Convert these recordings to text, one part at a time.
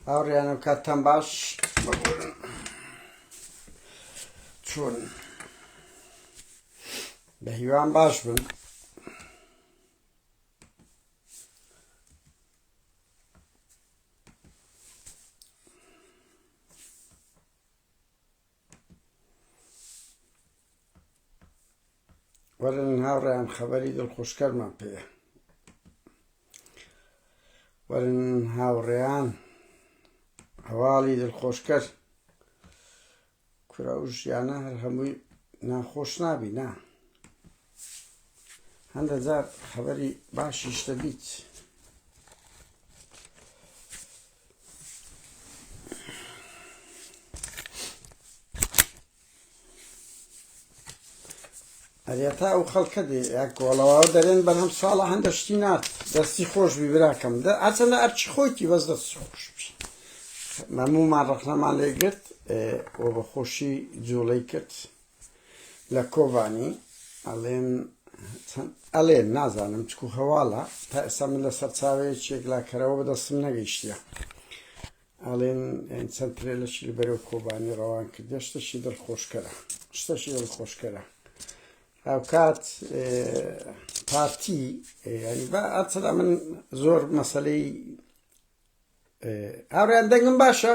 هاوڕیانم کاتتان باش چۆن بە هیوان باش بن وەرن هاوڕیان خەبەری دڵخۆشکەرمان پێە وەرن هاوڕێیان هەواڵی دڵخۆشکەر کورە و ژیانە هەر هەمووی ناخۆش نابی نا هەندە جار خەبەری باشیش دەبیت ئەرێتا ئەو خەڵکە دێ یاکۆڵەوە دەرێن بەرهەم ساڵە هەندە شتی نات دەستی خۆش بیبراکەم دە ئەچەندە ئەرچی خۆیتی بەس دەست خۆش مەمومان ڕەخنەمان لێ گرت و بە خۆشی جوڵەی کرد لە کۆبانی ئەڵێن ئەڵێن نازانم چکو هەواڵە تا ئێستا من لە سەرچاوەیە چێکلاکەرەوە بەدەستم نەگەیشتە ئەڵێن چەند ترێلەشی لە بەرەو کۆبانی ڕەوان کرد دەشتەشی دڵخۆشکەرە شتەشی دڵخۆشکەرە هاوکات پارتی ینی بە ئەچدا من زۆر مەسلەی هاوڕیان دەنگم باشە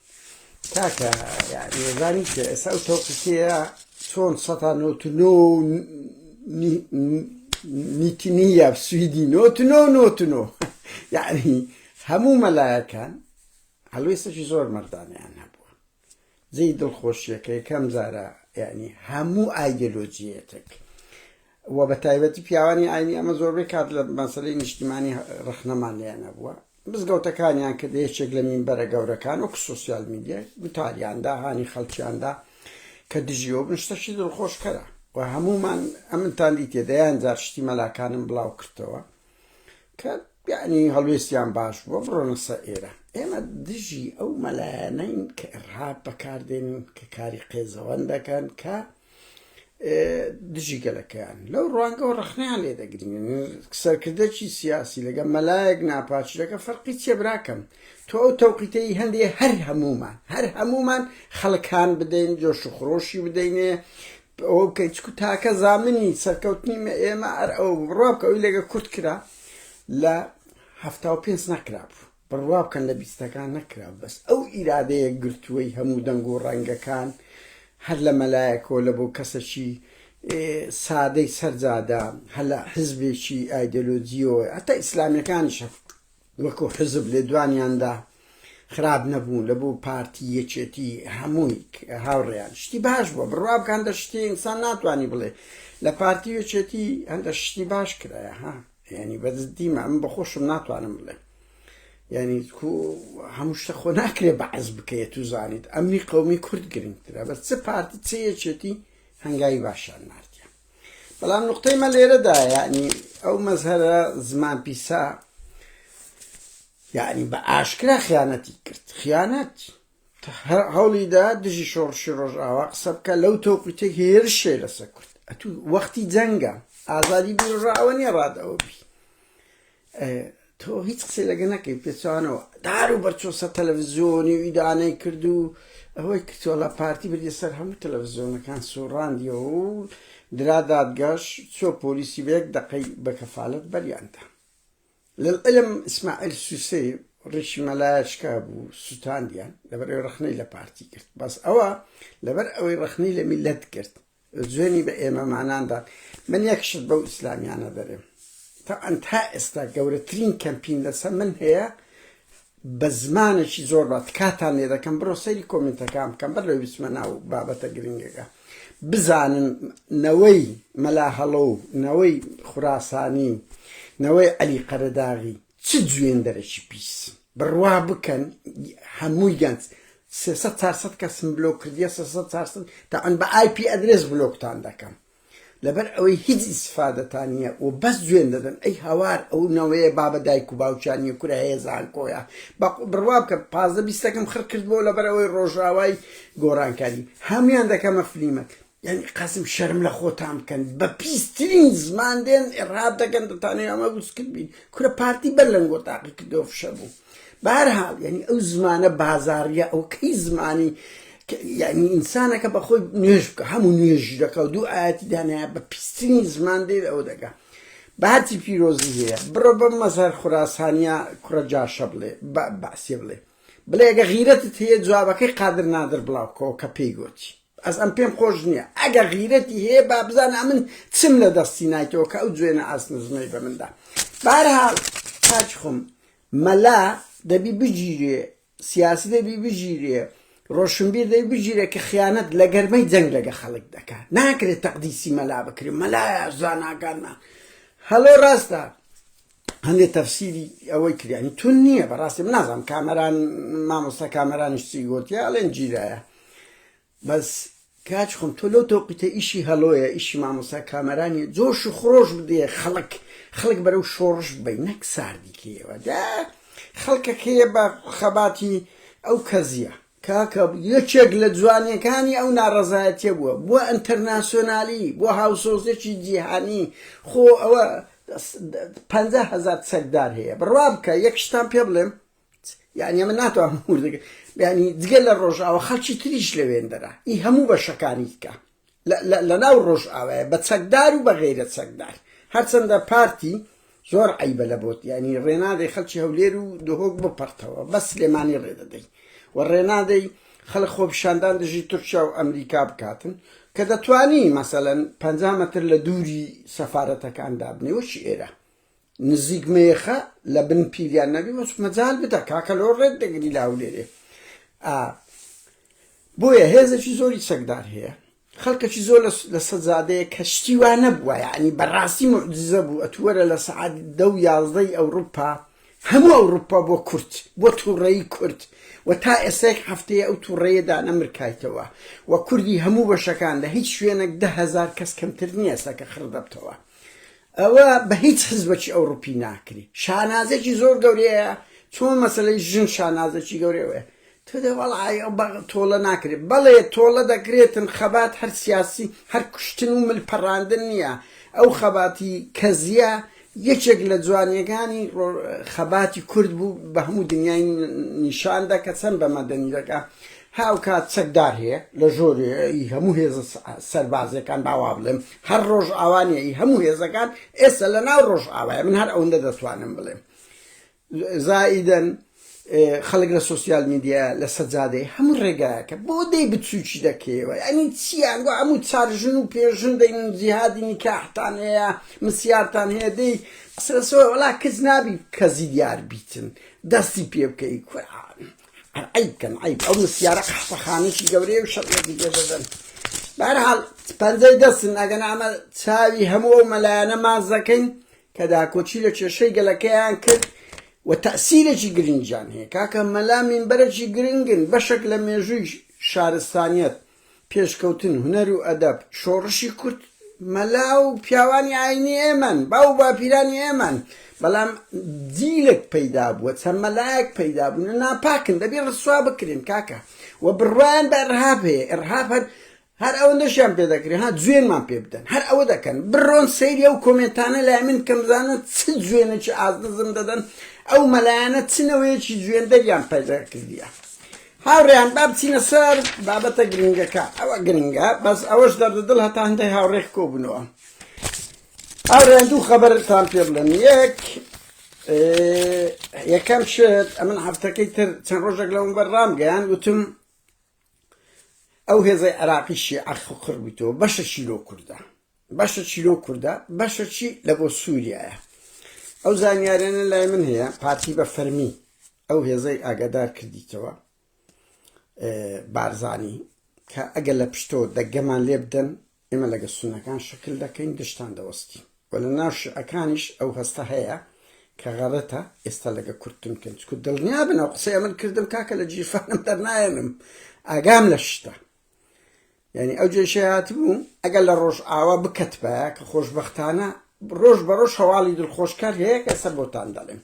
کاکە یعنی زانیت ئێستا ئەو تەوقیفەیە چۆن سەتا نۆت نۆ نیتنیە سویدی نۆت نۆ نۆت نۆ یعنی هەموو مەلایەکان هەلوێستەکی زۆر مردانیان هەبووە جێی دڵخۆشیەکە یەکەم جارە یعنی هەموو ئایدۆلۆجیەتێک وە بە تایبەتی پیاوانی ئاینی ئەمە زۆربەی کات لە مەسەلەی نیشتیمانی ڕەخنەمان لێیان هەبووە مزگەوتەکانیان کە یەکێک لە مینبەرە گەورەکان وەکو سۆسیال میدیا گوتاریاندا هانی خەڵکیاندا کە دژیەوە بن شتەشی دڵخۆشکەرە و هەمومان ئەمنتان دیتێ دەیان جار شتی مەلاکانم بڵاو کردەوە کە یعنی هەڵوێستیان باش بووە بڕۆنەسە ئێرە ئێمە دژی ئەو مەلایەنەین کە ڕاب بەکاردێنن کە کاری قێزەوەن دەکەن کە دژی گەلەکەیان لەو ڕوانگەەوە ڕخنیان لێ دەگرین سەرکردەکی سیاسی لەگە مەلایەک ناپاچلەکە فەرقی چێ براکەم تۆ ئەو تەوقیتەی هەندێ هەر هەمومان هەر هەمومان خەڵکان بدەین جۆش و خرۆشی بدەینێ ئەوە بکەین چکو تاکە زامنی سەرکەوتنی مە ئێمە ئەر ئەو بڕوا بکە ئەوی لەگە کورت کرا لە هەفتا و پێنج نەکرابوو بڕوا بکەن لە بیستەکان نەکرا بەس ئەو ئیرادەیە گرتووەی هەموو دەنگ و ڕەنگەکان هەر لە مەلایە کۆلە بۆ کەسەکی سادەی سەر جادە هەر لە حزبێکی ئایدۆلۆجیەوە هەتا ئیسلامیەکانیش وەکو حزب لێدوانیاندا خراپ نەبوو لە بۆ پارتی یەکێتی هەمووی هاوڕێیان شتی باش بووە بڕوا بکەن دە شتی ئینسان ناتوانانی بڵێ لە پارتی یەکێتی هەندە شتی باش کرایە ها یانی بەدز دیمە ئەم بەخۆشم ناتوانم بڵێم یعنی هەموو شتە خۆ ناکرێ بەعز بکەیت و زانیت ئەمنی قومی کورد گرنگترە بەس چ پارتی چەیەکێتی هەنگاوی باشان نردە بەڵام نقطەی مە لێرەدا یعنی ئەو مەزهرە زمان پیسا یعنی بە ئاشکرا خیانەتی کرد خیانەت هەوڵیدا دژی شۆڕشی ڕۆژئاوا قسە بکە لەو تۆقیتە هێرشێ لەسەر کورد ئەتو وەختی جەنگە ئازادی بیرڕا ئەوە نیە ڕادەوە بی تۆ هیچ قسە لەگە نەکەی پێچوانەوە دار و بەرچۆسە تەلەڤزیۆنی و ئیدانەی کرد و ئەوەی کردوەڵە پارتی بردی سەر هەموو تەلەڤزیۆنەکان سوڕاندیەوە و درا دادگەش چۆ پۆلیسی بەیەک دەقەی بەکەفاالت بەریاندا للعلم اسماعیل سوسەی ڕیشی مەلایە شکابوو سوتاندیان لەبەر ئەوەی ڕەخنەی لە پارتی گرت بەس ئەوە لەبەر ئەوەی ڕەخنەی لە میلەت گرت جوێنی بە ئێمەماناندا من یەک شت بەو ئیسلامیانە دەرێم تەعەن تا ئێستا گەورەترین کەمپین لەسەر من هەیە بە زمانێکی زۆر با تکاتان لێ دەکەم بڕۆ سەیری کۆمینتەکان بکەن بەر لەوەی بچمە ناو بابەتە گرنگەکە بزانن نەوەی مەلا هەڵۆ و نەوەی خوراسانی و نەوەی عەلی قەرەداغی چ جوێندەرێکی پیس بڕوا بکەن هەمووی گەنج سێ سەد چار سەد کەسم بلۆک کردیە سێ سەد چار سەد تەعەن بە ئای پی ئەدرێس بلۆکتان دەکەم لەبەر ئەوەی هیچ ئیستفادەتان نیە و بەس جوێن دەدەن ئەی هاوار ئەو نەوەیە بابە دایک و باوکیان نیە کورە هەیە زانکۆیە بە بڕوا بکە پازدە بیستەکەم خڕ کردبۆ لەبەر ئەوەی ڕۆژاوای گۆرانکاری هەمویان دەکەمە فلیمەک یانی قەزم شەرم لە خۆتان بکەن بە پیسترین زمان دێن ئێڕاب دەکەن دەتانەوێ ئەمە وسکت بین کورە پارتی بەر لەنگۆ تاقی کردەوە فشە بوو. بەهەرحاڵ یانی ئەو زمانە بازاڕیە ئەو کەی زمانی یعنی ئینسانەکە بەخۆی نوێژ بکە هەموو نوێژی دەکە و دوو ئاەتی دانایە بە پیستنی زمان دێت ئەو دەگا باتی پیرۆزی هەیە بڕۆ بە مەزار خوراسانیا کوڕە جاشە بڵێ بەسیێ بڵێ بڵێگە غیرەتت هەیە جوابەکەی قادر نادر بڵاوکەوە کە پێی گۆچی بەس ئەم پێم خۆش نیە ئەگەر غیرەتی هەیە با بزانە ئەمن چم لە دەستی نایتەوە کە ئەو جوێنە ئاست نزمەی بە مندا بارهاڵ کاچ خۆم مەلا دەبی بگیرێ سیاسی دەبی بگیرێ ڕۆشنبیر دەی بگیرە کە خیانەت لە گەرمەی جەنگ لەگە خەڵک دەکات ناکرێت تەقدیسی مەلا بکرێت مەلایە زاناکانمان هەڵۆ ڕاستە هەندێ تەفسیری ئەوەی کرد یانی تون نییە بەڕاستی من نازانم کامەران مامۆستا کامەرانیش چی گوتیا ئەڵێن جیرایە بەس کاچ خۆم تۆ لەو تۆقیتە ئیشی هەڵۆیە ئیشی مامۆستا کامەرانی جۆش و خرۆش بدێ خەڵک خەڵک بەرەو شۆڕش بی نەک ساردیکەیەوە دا خەڵکەکەیە بە خەباتی ئەو کەزیە کاکە یەکێک لە جوانیەکانی ئەو ناڕەزایەتیە بووە بۆ ئەنتەرناسیۆنالی بۆ هاوسۆزێکی جیهانی خۆ ئەوە پەنجا هەزار چەکدار هەیە بڕوا بکە یەک شتان پێ بڵێم یعنی ئەمە ناتوانم وردەکە ینی جگە لە ڕۆژاوە خەڵکی تریش لەوێندەرە ئی هەموو بەشەکانی دیکە لە ناو ڕۆژئاوایە بە چەکدار و بە غەیرە چەکدار هەرچەندە پارتی زۆر عیبە لە بۆت یعنی ڕێنادەی خەڵکی هەولێر و دهۆک بپەڕتەوە بە سلێمانی ڕێدەدەی و ڕێنادەی خەڵک خۆپیشاندان دژی تورکیا و ئەمریکا بکاتن کە دەتوانی مەسەلەن پ مەتر لە دووری سەفارەتەکان دابنێ وەکی ئێرە نزیک مەیخە لە بن پیریان نەبی وەچ مەجال بدە کاکە لۆ ڕێت دەگری لە هەولێرێ ئا بۆیە هێزێکی زۆری چەکدار هەیە خەڵکەکی زۆر لە سەجادەیە کە شتی وا نەبووە یعنی بەڕاستی معجزە بوو ئەتووەرە لە سعات دە و یازدەی ئەوروپا هەموو ئەوروپا بۆ کورد بۆ تووڕەی کورد و تا ئێسێک هەفتەیە ئەو تووڕەیەدا نەمرکایتەوە و کوردی هەموو بەشەکان لە هیچ شوێنێک دههزار کەس کەمتر نییە سەکە خڕ دەبتەوە ئەوە بە هیچ حزبەکی ئەوڕوپی ناکری شانازێکی زۆر گەورەیە چۆن مەسەلەی ژن شانازێکی گەورەوەیە تۆدە وەڵعای ئەو بە تۆڵە ناکرێت بەڵێ تۆڵە دەکرێتن خەبات هەر سیاسی هەر کوشتن و مل پەڕاندن نییە ئەو خەباتی کەزیە یەکێک لە جوانیەکانی خەباتی کورد بوو بە هەموو دنیای نیشاندا کە چەند بە مەدەنی دەکە هاوکات چەکدار هەیە لە ژۆرێ ی هەموو هێزە سەربازیەکان با وا بڵێم هەر ڕۆژئاوا نیە ی هەموو هێزەکان ئێستا لە ناو ڕۆژئاوایە من هەر ئەوەندە دەتوانم بڵێم زائیدەن خەڵک لە سۆسیال میدیایە لە سەجادەیە هەموو ڕێگایەکە بۆ دەی بچووکی دەکەیەوە یانی چیان گۆ هەموو چار ژن و پێ ژن دەین جیهادی نیکاحتان هەیە مسیارتان هەیە دەی قسە لەسەوە وەڵا کچ نابی کەزی دیار بیتن دەستی پێ بکەی کورە عەیب کەم عەیب ئەو مسیارە قەحپەخانەیەکی گەورەیە و شەڕێکی پێ دەدەن بەرحاڵ پەنجەی دەستن ئەگەن ئەمە چاوی هەموو ئەو مەلایەنە ماز دەکەین کە داکۆچی لە کێشەی گەلەکەیان کرد و تەسیرێکی گرنجان هەیە کاکە مەلا مینبەرێکی گرنگن بەشێک لە مێژووی شارستانیت پێشکەوتن، هونەر و ئەدەب، شۆڕشی کورد مەلا و پیاوانی ئاینی ئێمەن، باو و باپیرانی ئێمەن، بەڵام جیلێک پەیدا بووە، چەند مەلایەک پەیدا بوون و ناپاکن، دەبی ڕسوا بکرێن کاکە و بڕوایان بە ئرهاب هەیە، ئرهاب هەر هەر ئەوەندەشیان پێ دەکرێ ها جوێنمان پێ بدەن، هەر ئەوە دەکەن، بڕۆن سەیری ئەو کۆمێنتانە لای من بکەن بزانن چ جوێنێکی ئازنزم دەدەن، ئەو مەلایانە چ نەوەیەکی جوێندەریان پەیدا کردیە. هاوڕێیان با بچینە سەر بابەتە گرنگەکە ئەوە گرنگە بەس ئەوەش دەردە دڵ هەتا هەندێک هاوڕێک کۆبوونەوە هاوڕێیان دوو خەبەرتان پێ بڵێن یەک یەکەم شت ئەمن هەفتەکەی تر چەند ڕۆژێک لەوم بەر ڕامگەیان وتم ئەو هێزەی عراقی شیعە خڕ بوویتەوە بەشە شیرۆ کوردە بەشەکی لەو کوردە بەشەکی لە بۆ سووریایە ئەو زانیارانە لای من هەیە پارتی بە فەرمی ئەو هێزەی ئاگادار کردیتەوە بارزانی کە ئەگەر لە پشتۆ دەگەمان لێ بدەن ئێمە لەگە سونەکان شکل دەکەین دشتان دەوەستی و لە ناو شعەکانیش ئەو هەستە هەیە کە غەڵەتە ئێستا لەگە کورتن کەن چکو دڵنیا بنەوە قسەیە من کردم کاکە لە جیفانم دەرنایەنم ئاگام لە شتە یانی ئەو جێشەی هاتبوو ئەگەر لە ڕۆژئاوا بکەتبایە کە خۆشبەختانە ڕۆژ بە ڕۆژ هەواڵی دڵخۆشکەر هەیە کە ئێستا بۆتان دەڵێم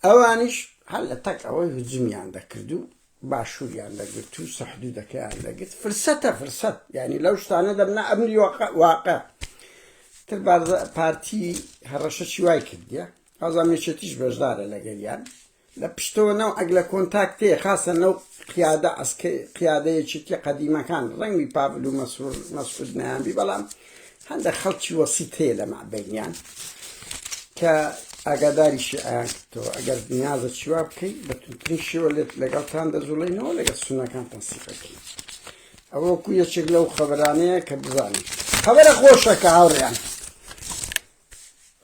ئەوانیش هەر لە تەک ئەوەی هجومیان دەکرد و باشووریان دەگرت و سەحدودەکەیان دەگرت فرسەتە فرسەت یعنی لەو شتانە دەبنا ئەمری واقع تر پارتی هەڕەشەشی وای کردە ئازامێچێتیش بەشدارە لەگەریان لە پشتەوە نەوعەک لە کۆنتاکتێ، خاسەن لەو قیادە عەسکەی، قیادە یەکێتیە قەدیمەکان، ڕەنگبی پاڤل و مەسرور مەسعود نەیانبی، بەڵام هەندێک خەڵکی وەسیت هەیە لە مابەینیان کە ئاگاداری شیعەیان کردەوە، ئەگەر نیازە چیوا بکەی بە توندترین شێوە لێت لەگەڵتان دەجوڵێینەوە لەگەڵ سوننەکانتان سیخەکەین. ئەوە وەکو یەکێک لەو خەبەرانەیە کە بزانین خەبەرە خۆشەکە هاوڕێیان.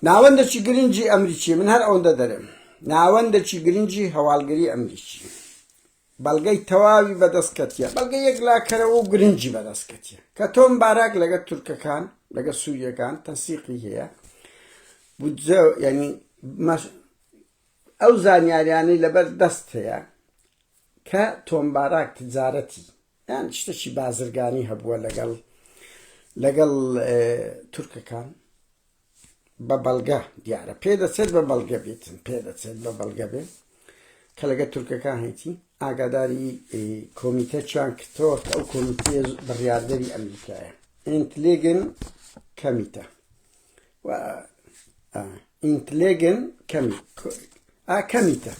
ناوەندەکی گرنگی ئەمریکی، من هەر ئەوەندە دەرێم، ناوەندەکی گرنگی هەواڵگری ئەمریکی بەڵگەی تەواوی بەدەست کەتیە، بەڵگەی یەکلاکەرەوە و گرنگی بەدەست کەتیە کە تۆم باراک لەگەڵ تورکەکان لەگەڵ سووریەکان تەنسیقی هەیە بودجە یعنی ئەو زانیاریانەی لەبەر دەست هەیە کە تۆم باراک تجارەتی یان شتێکی بازرگانی هەبووە لەگەڵ لەگەڵ تورکەکان بە بەڵگە دیارە پێ دەچێت بە بەڵگە بێتن پێ دەچێت بە بەڵگە بێت کە لەگە تورکەکان هەیتی ئاگاداری کۆمیتە چیان کردەوە کە ئەو کۆمیتێ بڕاردەری ئەمریکایە ئینتلێگن کەمیتە ئینتلێگن کەمی ئاکەمیتە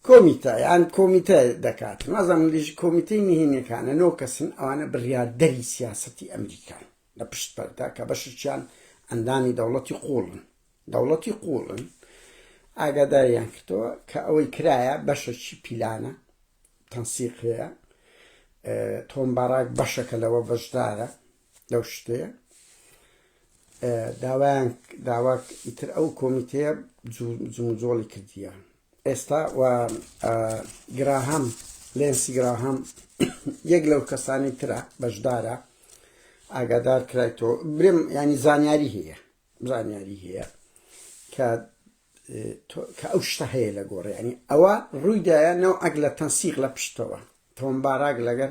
کۆمیتە یان کۆمیتە دەکات، نازانم لێژی کۆمیتەی نهێنیەکانە، نۆ کەسن ئەوانە بڕیاردەری سیاسەتی ئەمریکان لە پشت پەردە کە بەشێکیان ئەندامی دەوڵەتی قووڵن دەوڵەتی قووڵن ئاگاداریان کردەوە کە ئەوەی کرایە بەشەکی پیلانە تەنسیقەیە تۆم باراک بەشەکە لەوە بەشدارە لەو شتەیە داوایان داواک ئیتر ئەو کۆمیتەیە جموجۆڵی کردیە ئێستا و گراهام لێنسی گراهام یەک لەو کەسانی ترە بەشدارە ئاگادار کرایتەوە برم ینی زانیاری هەیە زانیاری هەیە کە کە ئەو شتە هەیە لە گۆڕ ینی ئەوە ڕوویدایە نەو ئەگ لە تەنسیق لە پشتەوە تۆم باراک لەگەر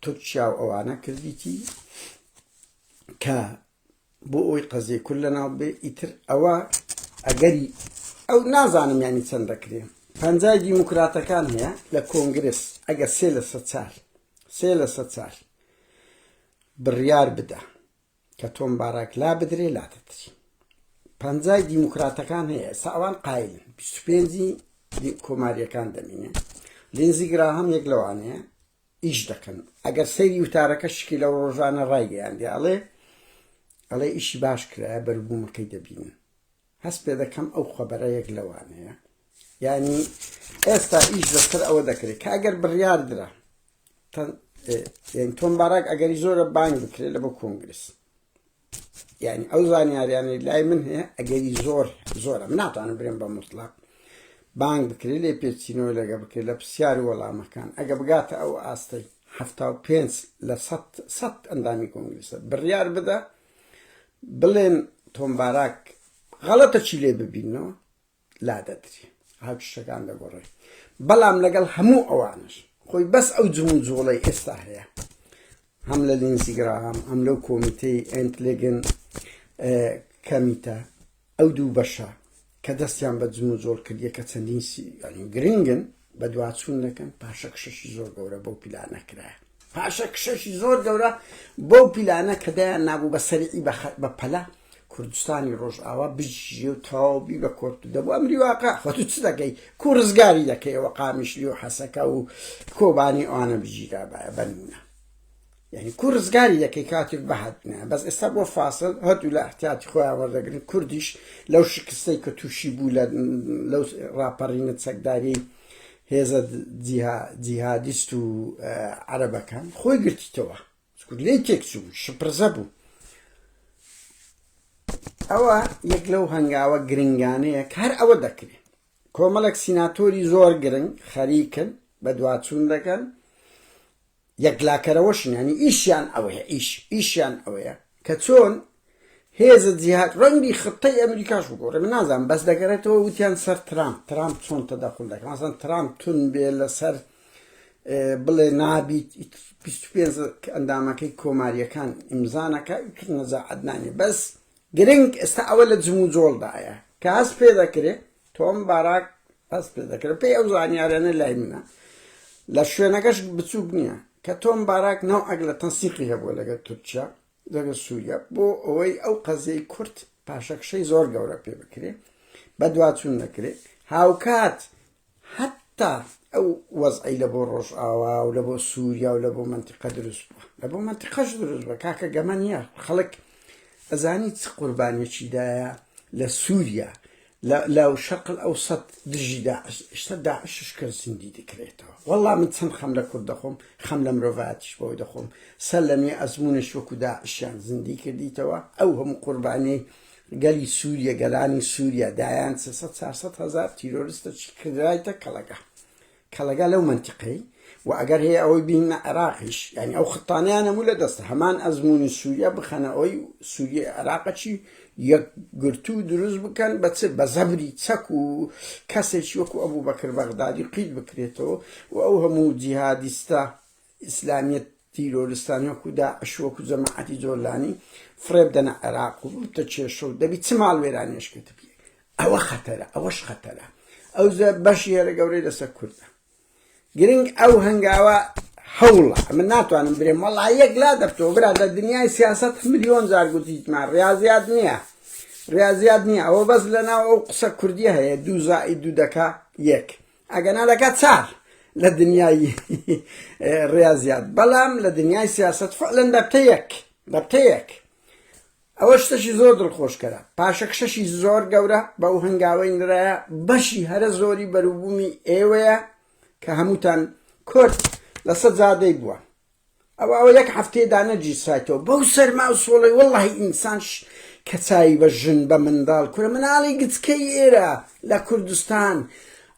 تورکیا و ئەوانە کردیتی کە بۆ ئەوەی قەزیە کورد لە ناو بێ ئیتر ئەوە ئەگەری ئەو نازانم یانی چەند دەکرێ پەنجای دیموکراتەکان هەیە لە کۆنگرس ئەگەر سێ لە سە چار سێ لە سە چار بڕیار بدە کە تۆم باراک لا بدرێ لا دەدری پەنجای دیموکراتەکان هەیە ساوان قایل پێنجی کۆماریەکان دەمینێ لێنزی گرا هەم یەک لەوانەیە ئیش دەکەن ئەگەر سەیری وتارەکە شکی لەو ڕۆژانە ڕایگەیاندی ئەڵێ ئەڵێ ئیشی باش کرایە بەروبوومەکەی دەبین هەست پێ دەکەم ئەو خەبەرە یەک لەوانەیە یعنی ئێستا ئیش لەسەر ئەوە دەکرێت کە ئەگەر بڕیاردرا تۆم باراک ئەگەری زۆرە بانگ بکرێت لە بۆ کۆنگرس یانی ئەو زانیاریانەی لای من هەیە ئەگەری زۆر زۆرە من ناتوانم برێن بە مطلق بانگ بکرێت لێ پێچینەوە لەگە بکرێت لە پرسیار وەڵامەکان ئەگە بگاتە ئەو ئاستەی هەفتا و پێنج لە سەد ئەندامی کۆنگلیسە بڕیار بدە بڵێن تۆمباراک غەڵەتە چی لێ ببینەوە لادەدری هاوچشەکان دەگۆڕێ بەڵام لەگەڵ هەموو ئەوانش خۆی بەس ئەو جمو جوڵەی ئێستا هەیە هەم لە لینزیگرام ئەم لەو کۆمیتەی ئەنتلێگن کەمیتە ئەو دوو بەشە کە دەستیان بە جمو جۆڵ کردیە کە چەندین گرنگن بەدواچوون دەکەن پاشەکشەشی زۆر گەورە بەو پیلانە کرایە پاشەکشەشی زۆر گەورە بەو پیلانە کە دەیان نابوو بە سەرعی بە پەلا کوردستانی ڕۆژئاوا بژی و تەواوبی بە کۆرت دەبوو ئەمری واقع خۆت چ دەکەی کو ڕزگاری دەکەیەوە قامیشلی و حەسەکە و کۆبانی ئەوانە بگیرابایە بەنمونە یانی کو رزگاری دەکەی کاتێک بەهەت نایە بەس ئێستا بۆ فاسل هەردوو لە احتیاتی خۆیان وەردەگرن کوردیش لەو شکستەی کە تووشی بوو لە لەو ڕاپەڕینە چەکداری هێزە جیهادیست و عەرەبەکان خۆی گرتیتەوە لێ تێکچوو شپرزە بوو ئەوە یەک لەو هەنگاوە گرنگانەیە کار ئەوە دەکرێت کۆمەڵێک سیناتۆری زۆر گرنگ خەریکن بە دواچوون دەکەن یەکلاکەرەوەشن یانی ئیشیان ئەوەیە ئیش ئیشیان ئەوەیە کە چۆن هێزە جیهاد ڕەنگی خطەی ئەمریکاش بگۆڕێ من نازانم بەس دەگەرێتەوە وتیان سەر ترامپ ترامپ چۆن تەدەخول دەکەن مەسەن ترامپ تون بێ لەسەر بڵێ نابیت 25 ئەندامەکەی کۆماریەکان ئیمزانەکە نەزاعەت نانی بەس گرنگ ئێستا ئەوە لە جموجۆڵدایە کە هەست پێدەکرێ تۆم باراک هەست پێدەکرێ پێی ئەو زانیارانەی لای منە لە شوێنەکەش بچووک نییە کە تۆم باراک نەوعەک لە تەنسیقی هەبووە لەگەڵ تورکیا لەگەڵ سووریا بۆ ئەوەی ئەو قەزیەی کورد پاشەکشەی زۆر گەورە پێ بکرێ بەدواچوون نەکرێ هاوکات حەتا ئەو وەزعەی لە بۆ ڕۆژئاوا و لە بۆ سووریا و لە بۆ مەنتیقە دروست بووە، لە بۆ مەنتیقەش دروست بووە، کاکە گەمە نییە، خەڵک ئەزانی چ قوربانییەکی دایە لە سووریا، لە شەرقەلئەوسەت دژی داعش، ئێستا داعشش کە زیندی دەکرێتەوە، وەڵڵا من چەند خەم لە کورد دەخۆم، خەم لە مرۆڤایەتیش بەوە دەخۆم، سەرلەنوێ ئەزموونیش وەکوو داعشیان زیندی کردیتەوە، ئەو هەموو قوربانییەی گەلی سوریە گەلانی سوریە دایان سێ سەد چار سەد هەزار تیرۆرستە چی کردرایتە کەڵەگا کەڵەگا لەو منتیقەی و ئەگەر هەیە ئەوەی بینە عێراقیش یعنی ئەو خطانیان هەموو لە دەستە هەمان ئەزمموی سووریا بخەنە ئەوی سووریە عێراقەچی یەکگرتو دروست بکەن بە چ بە زەبری چەک و کەسێکی وەکو ئەبوو بەکر بەغدادی قیت بکرێتەوە و ئەو هەموو جیهادیستە ئیسلامیە تیرۆرستان وەکو داعش وەکو جەماعەتی جۆلانی فڕێب دەنە عێراق و بوتە کێشە و دەبی چ ماڵ وێرانیش کرد بێ ئەوە خەتەرە ئەوەش خەتەرە ئەو بەشی هێرە گەورەی لەسەر کوردە گرنگ ئەو هەنگاوە هەوڵە من ناتوانم برێم وەڵا یەک لا دەبتەوە برا لە دنیای سیاست ملیۆن جار گوتیتمان ڕاضیات نییە ڕاضیات نییە ئەوە بەس لە ناو ئەو قسە کوردی هەیە دوو زائی دوو دەکا یەک ئەگەنا دەکات چار لە دنیای ڕاضیات بەڵام لە دنیای سیاست فعلەن بەبتەیەک بەبتەیەک ئەوە شتەشی زۆر دڵخۆشکەرە پاشەکشەشی زۆر گەورە بەو هەنگاوەی نرایە بەشی هەرە زۆری بەروبوومی ئێوەیە کە هەمووتان کورد لەسەر زادەی بووە ئەوە ئەوە یەک هەفتەیە دانەگیرسایتەوە بەو سەرما و سۆڵەی وەڵڵاهی ئینسان کە چاوی بە ژن بە منداڵ کورە مناڵی گچکەی ئێرە لە کوردستان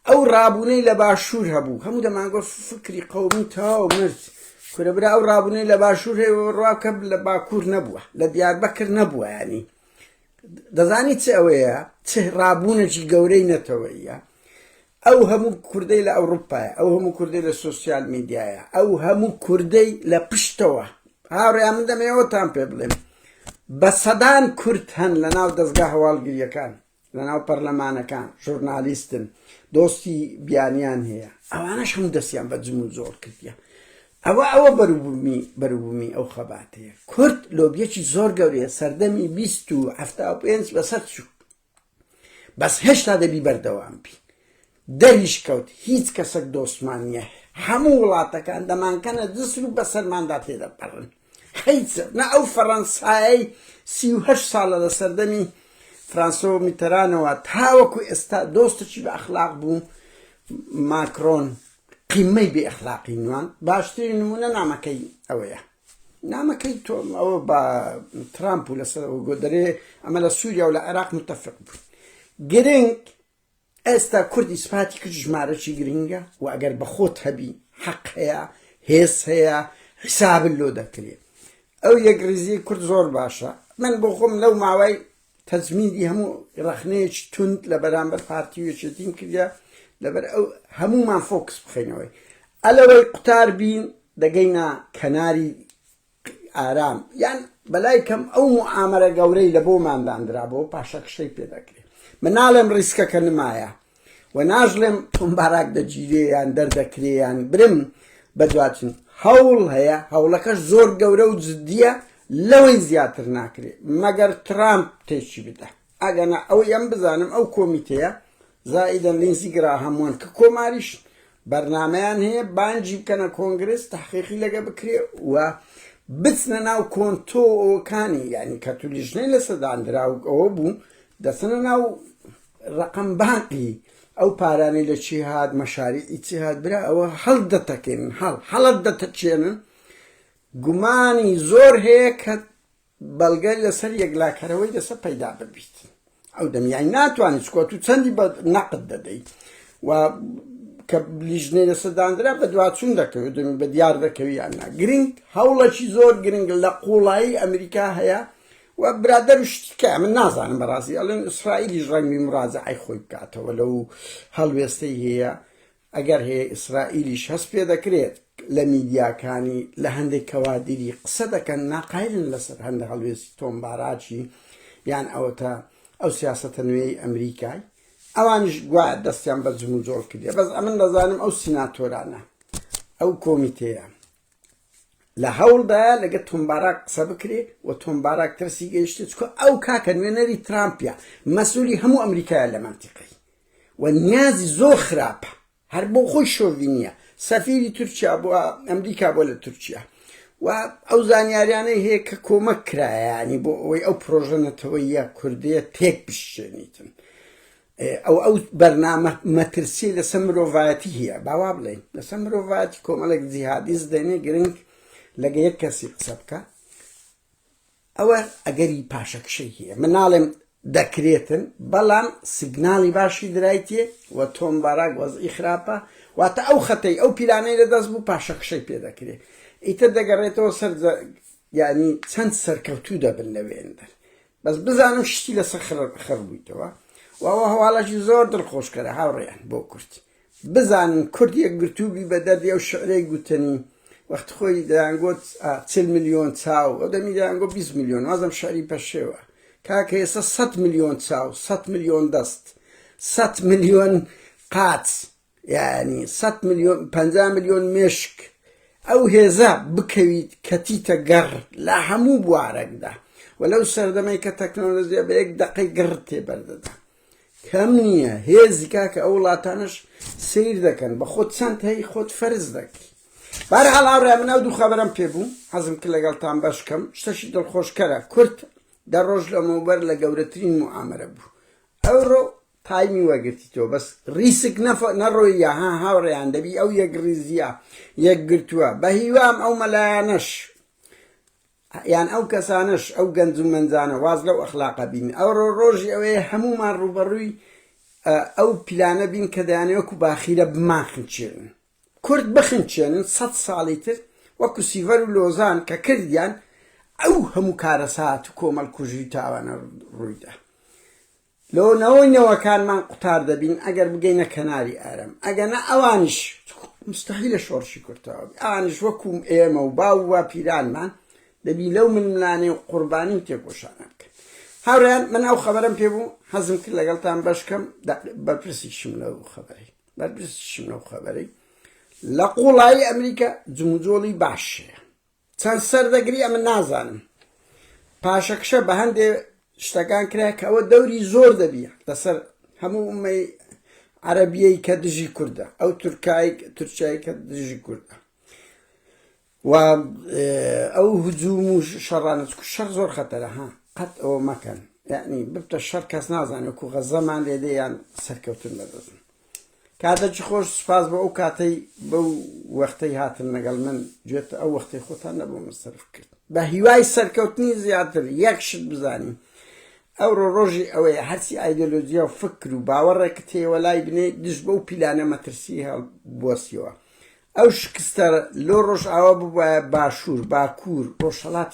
ئەو ڕابوونەی لە باشوور هەبوو هەموو دەمانگۆ فکری قەومی تاو مرد کورە برا ئەو ڕابوونەی لە باشوور هەیە ڕواکە لە باکوور نەبووە لە دیاربەکر نەبووە ینی دەزانی چ ئەوەیە چ ڕابوونەکی گەورەی نەتەوەیە ئەو هەموو کوردەی لە ئەوڕوپایە، ئەو هەموو کوردەی لە سۆسیال میدیایە، ئەو هەموو کوردەی لە پشتەوە، هاوڕێیان من دەمەوێ ئەوەتان پێ بڵێم بە سەدان کورد هەن لە ناو دەزگا هەواڵگرییەکان، لە ناو پەرلەمانەکان، ژورنالیستن، دۆستی بیانیان هەیە، ئەوانەش هەموو دەستیان بە جم و جۆڵ کردیە. ئەوە ئەوە بەروبوومی بەروبوومی ئەو خەباتەیە. کورد لۆبییەکی زۆر گەورەیە، سەردەمی بیست و حەفتا و پێنج بەسەر چوو. بەس هێشتا دەبی بەردەوام بی دەریش کەوت هیچ کەسەک دۆستمان نییە هەموو وڵاتەکان دەمانکەنە دزر و بەسەرماندا تێدەپەڕن حیچ نە ئەو فەڕەنسایەی سیه ساڵە لە سەردەمی فرانسۆ میتەرانەوە تاوەکو ئێستا دۆستێکی بە ئەخلاق بوو ماکرۆن قیمەی بێ ئەخلاقی نوان باشترین نمونە نامەکەی ئەوەیە نامەکەی تۆ ئەوە بە ترامپ و لەسەر گۆدەرێ ئەمە لە سووریا و لە عێراق متتەفق بوون گرنگ ئێستا کوردی سپاتی کرد ژمارەی گرنگە و ئەگەر بەخۆت هەبی حەق هەیە هێز هەیە حسابل لۆ دەکرێت ئەو یەک ریزی کورد زۆر باشە من بۆ خۆم لەو ماوەی تەجمیدی هەموو ڕەخنەیەکی توند لە بەرامبەر پارتی و یەکێتیم کردە لەبەر ئەو هەموومان فۆکس بخینەوەی ئەلەوەی قوتار بین دەگەینە کەناری ئارام یان بەلای کەم ئەو معامەرە گەورەی لە بۆمانداندرا بۆ پاشەکشەی پێ دەکرێت مناڵێم ڕیسکەکە نمایە و ناژلێم تۆم باراک دەگیرێ یان دەردەکرێ یان برم بەدواچن هەوڵ هەیە هەوڵەکەش زۆر گەورە و جدیە لەوەی زیاتر ناکرێ مەگەر ترامپ تێکی بدە ئەگەنا ئەوەی ئەم بزانم ئەو کۆمیتەیە زائیدە لینزی گرا هەمووان کە کۆماریش بەرنامەیان هەیە بانگی بکەنە کۆنگرس تحقیقی لەگە بکرێ و بچنە ناو کۆنتۆکانی یعنی کە تو لیژنەی لەسەداندراوک ئەوە بوو دەچنە ناو ڕقم بانقی ئەو پارانەی لە چی هاات مەشاری ئیچی هاات برا ئەوە هەڵ دەتەکەێنن هەڵ هەڵت دەتەچێنن گومانی زۆر هەیە کە بەڵگە لەسەر یەکلاکەرەوەی لەسەر پەیدا ببیت ئەو دەمیای ناتوانانی چکۆ تو چەندی بە نەقد دەدەیت و کە لیژنەی لەسەر دانرا بە دواچون دەکەوێت دەمی بە دیار دەکەویان نا گرنگ هەوڵەکی زۆر گرنگ لە قوڵایی ئەمریکا هەیە و برادەر و شتیکە من نازانم بەڕاستی ئەڵێن ئیسرائیلیش ڕەنگی مراجعی خۆی بکاتەوە لەو هەڵوێستەی هەیە ئەگەر هەیە ئیسرائیلیش هەست پێ دەکرێت لە میدیاکانی لە هەندێک کەوادری قسە دەکەن ناقایلن لەسەر هەندە هەڵوێستی تۆم باراکی یان ئەوەتا ئەو سیاسەتە نوێی ئەمریکای ئەوانش گوایە دەستیان بە جموجۆڵ کردێ بەس ئەمن دەزانم ئەو سیناتۆرانە ئەو کۆمیتەیە لە هەوڵدایە لەگە تۆمباراک قسە بکرێ و تۆمباراک ترسی گەیشتێت چکە ئەو کاکە نوێنەری ترامپیا مەسوولی هەموو ئەمریکایە لە منتیقی و نیازی زۆر خراپە هەر بۆ خۆی شۆڤینیە سەفیری تورکیا بۆ ئەمریکا بۆ لە تورکیا و ئەو زانیاریانەی هەیە کە کۆمەک کرایانی بۆ ئەوەی ئەو پرۆژە نەتەوەیە کوردەیە تێک بشێنیتن ئەو ئەو بەرنامە مەترسی لەسەر مرۆڤایەتی هەیە باوا بڵێن لەسەر مرۆڤایەتی کۆمەڵێک جیهادیز دێنێ گرنگ لەگە یەک کەسی قسە بکە ئەوە ئەگەری پاشەکشەی هەیە. من ناڵێم دەکرێتن، بەڵام سیگناڵی باشی درایتیە و تۆم باراک وەزعی خراپە، واتە ئەو خەتەی، ئەو پیلانەی لەدەست بوو پاشەکشەی پێ دەکرێت. ئیتر دەگەڕێتەوە سەر یانی چەند سەرکەوتوو دەبن لە وێندەر. بەس بزانم شتی لەسەر خڕ بوویتەوە و ئەوە هەواڵەشی زۆر دڵخۆشکەرە هاوڕێیان بۆ کورد. بزانن کورد یەکگرتوو بی بە دەردی ئەو شعرەی گوتنی وەخت خۆی دەیانگۆت چل ملیۆن چاو ئەو دەمی دەیانگۆ بیست ملیۆن وازم شعری پەشێوە کاکە ئێستا سەد ملیۆن چاو سەد ملیۆن دەست سەد ملیۆن قاچ یعنی سەد ملیۆن پەنجا ملیۆن مێشک ئەو هێزە بکەویت کەتیتە گەڕ لە هەموو بوارەکدا و لەو سەردەمەی کە تەکنۆلۆژیا بە یەک دەقەی گڕ تێبەردەدا کەم نیە هێزی کاکە ئەو وڵاتانەش سیر دەکەن بە خۆت چەند هەی خۆت فەرز دەکەی بارحال ئاڕێ من ئەو دوو خەبەرم پێ بوو حەزم کە لەگەڵتان بەشکەم شتەشی دڵخۆشکەرە کورت دە ڕۆژ لەمەوبەر لە گەورەترین معامەرە بوو ئەوڕۆ تایمی وەگرتی تۆ بەس ڕیسک نەڕۆیە ها هاوڕێیان دەبی ئەو یەک ڕیزیە یەکگرتووە بە هیوام ئەو مەلایانەش ئە یان ئەو کەسانەش ئەو گەنج و مەنجانە واز لەو ئەخلاقە بینن ئە رۆ رۆژی ئەوەیە هەموومان رووبەڕووی ئە و پیلانە بین کە دەیانەوێ وەکو باخیرە بمانخنچێنن کورد بخنچێنن سەد ساڵی تر وەکو سیڤەر و لۆزان کە کردیان ئە و هەموو کارەسات و کۆمەڵکوژی و تاوانە روویدا لۆ نەوەی نەوەکانمان قوتار دەبین ئەگەر بگەینە کەناری ئارام ئەگەنا ئەوانیش مستەحیلە شۆڕشی کورد تەواو بی ئەوانیش وەکو ئێمە و باو و باپیرانمان دەبی لەو ململانێ و قوربانی و تێکۆشانە بکەن هاوڕێیان من ئەو خەبەرەم پێ بوو حەزم کرد لەگەڵتان بەش کەم بەرپرسیشم لەو خەبەرەی بەرپرسیشم لەو خەبەرەی لە قوڵایی ئەمریکا جموجۆڵی باشەیە چەند سەر دەگری ئەمن نازانم پاشەکشە بە هەندێ شتەکان کرا کە ئەوە دەوری زۆر دەبی لەسەر هەموو ئومەی عەربیەی کە دژی کوردە ئەو تورکایک تورکای کە دژی کوردە و ئەو هجووم و شەڕانە شەر زۆر خەتەرە ها قەت ئەوە مەکەن یعنی ببتە شەر کەس نازانێت و غەزەمان لێدەیان سەرکەوتن بەدەستن کاتەکی خۆش سوپاس بۆ ئەو کاتەی بەو وەختەی هاتن لەگەڵ من گوێت ئەو وەختی خۆتان نەبوو من سەرف کرد بە هیوای سەرکەوتنی زیاتر یەک شت بزانین ئەوڕۆ ڕۆژی ئەوەیە هەرچی ئایدۆلۆژیا و فکر و باوەڕێکت هەیەوە لای بنێ دژ بەو پیلانە مەترسی هەڵبوەسیەوە ئەو شکستە لۆ ڕۆژئاوا ببووە باشوور باکوور ڕۆژهڵات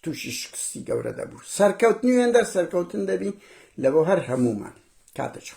تووشی شکستی گەورە دەبوو سەرکەوتنی وێندەر سەرکەوتن دەبی لە بۆ هەر هەمومان کاتە چۆ